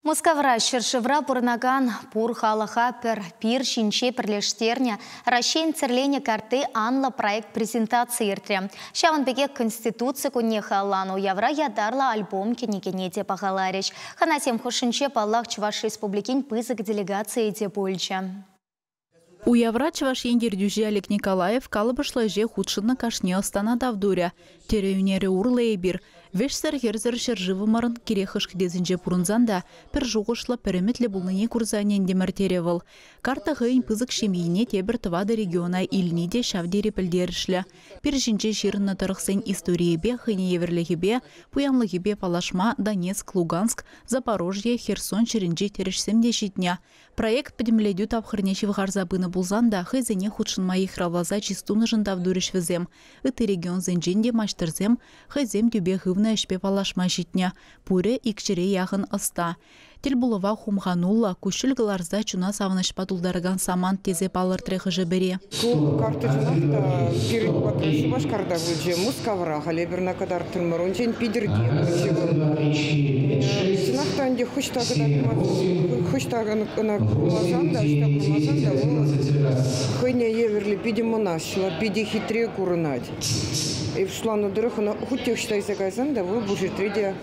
Мускавра ҫӗршывра пурӑнакан пур халӑха пӗр пир ҫинче пӗрлештернӗ Раҫҫейӗн тӗрленӗ картти анлӑ проект презентаци иртрӗ. Ҫавӑн пекех Конституци кунне халалланӑ уявра ятарлӑ альбом кӗнекене те пахаларӗҫ. Хӑнасем хушшинче, паллах, Чӑваш Республикин пысӑк делегацийӗ те пулчӗ. Уявра Чӑваш Ен ертӳҫи Олег Николаев калӑпӑшлӑ ӗҫе хутшӑннӑ кашни ӑстана тав турӗ, тӗрӗ ӳнерӗ урлӑ эпир, вӗҫсӗр-хӗрсӗр ҫӗршывӑмӑрӑн кирек хӑш кӗтесӗнче пурӑнсан та, пӗр шухӑшлӑ, пӗр ӗмӗтлӗ пулнине курса ӗнентӗмӗр, терӗ вӑл. Карта хӑйӗн пысӑк ҫемйине тепӗр тӑватӑ региона илни те ҫав тери пӗлтерӗшлӗ. Пир ҫинче ҫырӑннӑ тӑрӑхсен историйӗпе, хӑйнеевӗрлӗхӗпе, пуянлӑхӗпе паллашма Донецк, Луганск, Запорожье, Херсон ҫӗрӗнчи тӗрӗшсем те ҫитнӗ. Проект пӗтӗмлетӳ тапхӑрне ҫывхарса пынӑ пулсан та хӑйсене хутшӑнма йыхравласа чыс тунӑшӑн тав турӗҫ вӗсем. Ытти регионсенчен те маҫтӑрсем хӑйсем тӳпе хывнӑ ӗҫпе паллашма ҫитнӗ. Пурӗ икҫӗре яхӑн ӑста. Тӗлпулӑва хумхануллӑ, куҫҫуль кӑларса чуна савӑнӑҫпа тултаракан самант тесе палӑртрӗ хӑшӗ-пӗри. Ку карточкӑнах та пирӗн патра Шупашкарта пулчӗ. Мускавра, халӗ Эпирна кӑтартрӑмӑр. Унччен Питӗрте пулчӗ вӑл. Чӑнах та ӗнтӗ хӑҫта кӑтартман, хӑҫта ӑна курмасан та, ӑҫта курмасан та вӑл хӑйне евӗрлӗ питӗ мӑнаҫлӑ, питӗ хитре курӑнать. Пуҫланӑ тӑрӑх ӑна хуть те ӑҫта илсе кайсан та вӑл пушетре те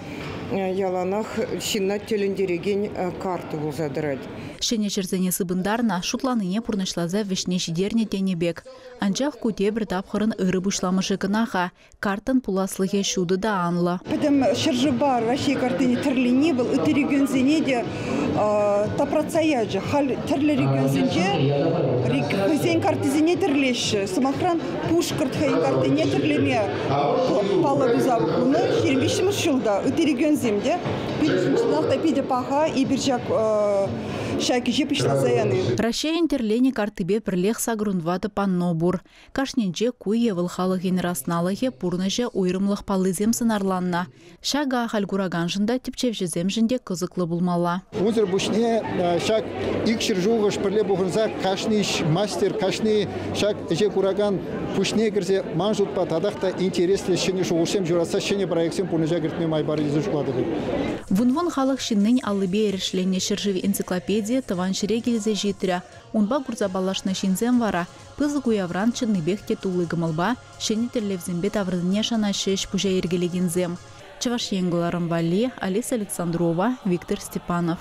яланах ҫынна тӗлӗнтерекен карта пулса тӑрать. Ҫӗнӗ ҫӗрсене сыпӑнтарнӑ, шутланине пурнӑҫласа вӗҫне ҫитернӗ тенӗ пек. Анчах ку тепӗр тапхӑрӑн ырӑ пуҫламӑшӗ кӑна-ха. Карттӑн пуласлӑхӗ ҫутӑ та анлӑ. Пӗтӗм ҫӗршывпа Раҫҫей картине тӗрлени вӑл ытти регионсене те тапратса ячӗ. Халь тӗрлӗ регионсенче хӑйсен картисене тӗрлеҫҫӗ. Сӑмахран, Пушкӑрт хӑйӗн картине тӗрлеме паллӑ туса пынӑ 25 ҫул та ытти регионсем те Пит сунсанах та питӗ паха эпир ҫак ҫак ӗҫе пуҫласа яни. Раҫҫейӗн тӗрленӗ картипе пӗрлех сакӑрун ватӑ панно пур. Кашнинче ку е вӑл халӑхӗн расналӑхӗ, пурнӑҫӗ, уйрӑмлӑх паллисем сӑнарланнӑ. Ҫакӑ ахаль кураканшӑн та, тӗпчевҫӗсемшӗн те кӑсӑклӑ пулмалла. Унсӑр пуҫне ҫак икҫӗр ҫулхӑш пӗрле пухӑнса кашни мастер, кашни Ҫак ӗҫе куракан пуҫне кӗрсе ман шутпа татах та интереслӗ ҫӗнӗ шухӑшсем ҫуратса ҫӗнӗ проектсем пурнӑҫа кӗртме май парӗ тесе шутлатӑп эп. Вун-вун халӑх ҫыннин аллипе эрешленнӗ ҫӗршыв энциклопедийӗ тӑван ҫӗре килсе ҫитрӗ. Унпа курса паллашнӑ ҫынсем вара пысӑк уявран чӑннипех те тулли кӑмӑлпа, ҫӗнӗ тӗллевсемпе таврӑннине шанаҫҫӗ ӗҫ-пуҫа йӗркелекенсем, Чӑваш Ен кӑларӑм валли, Олеся Александрова, Виктор Степанов.